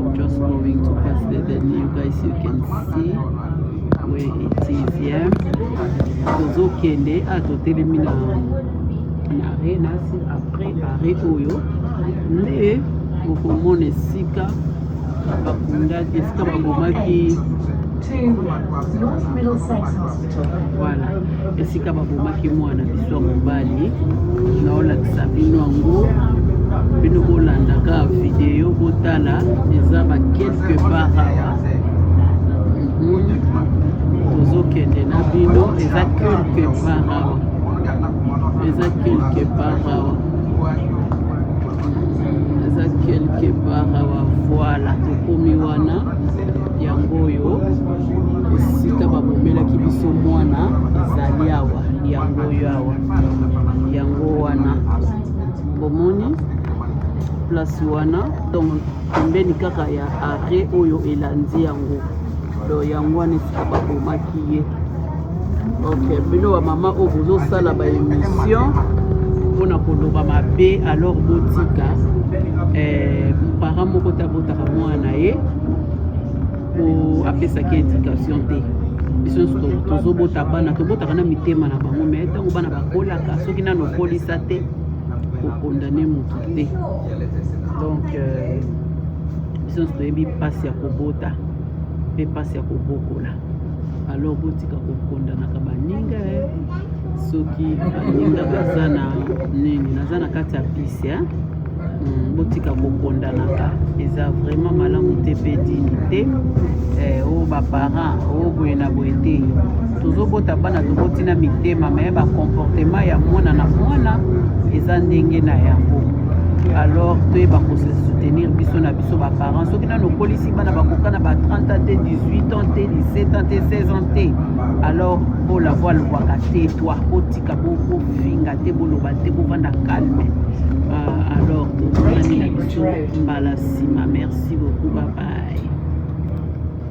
Just going to pass the then you guys you can see where it is yeah. Tozokende ah totelemi na na arena si après arrêt oyo nde bokomona esika bakundaki esika babomaki Voilà, esika babomaki mwana biso ya mobali naolakisa bino yango bino bolandaka video botala eza ba quelque part awa mhm. tozokende na bino eza quelque part awa eza quelque part awa eza quelque part awa voilà tokomi wana yango oyo esika babomelaki biso mwana ezali awa yango oyo awa yango wana bomoni place wana donc pembeni kaka ya arret oyo elandi yango do yango wana esika babomaki ye ok bino bamama oyo bozosala baémission mpona koloba mabe alors botika eh, parent moko te abotaka mwana na ye po apesaki indication te biso nyonso tozobota bana tobotaka na mitema na bango me ntango bana bakolaka soki nano okolisa te kokondane motu te donc euh, biso nyonso toyebi mpasi ya kobota mpe mpasi ya kobokola alors botika kokondanaka baninga eh. soki baninga baza na nini naza na kati ya bisi eh. Hmm, botika kokondanaka eza vraiment malamu te mpe dini te eh, o oh, baparent o oh, boye na boye te tozobota bana toboti na mitema me bacomportement ya mwana na mwana eza ndenge na yango alors toyeba kose soutenir biso na biso baparent soki nano okolisi bana bakoka na ba 30 ans te 18 ans te 17 ans te 16 ans te alors bola voa lobwaka te toi botika bofinga te boloba te bovanda calme uh, alors tozolanela biso mbala nsima merci beaucoup babaye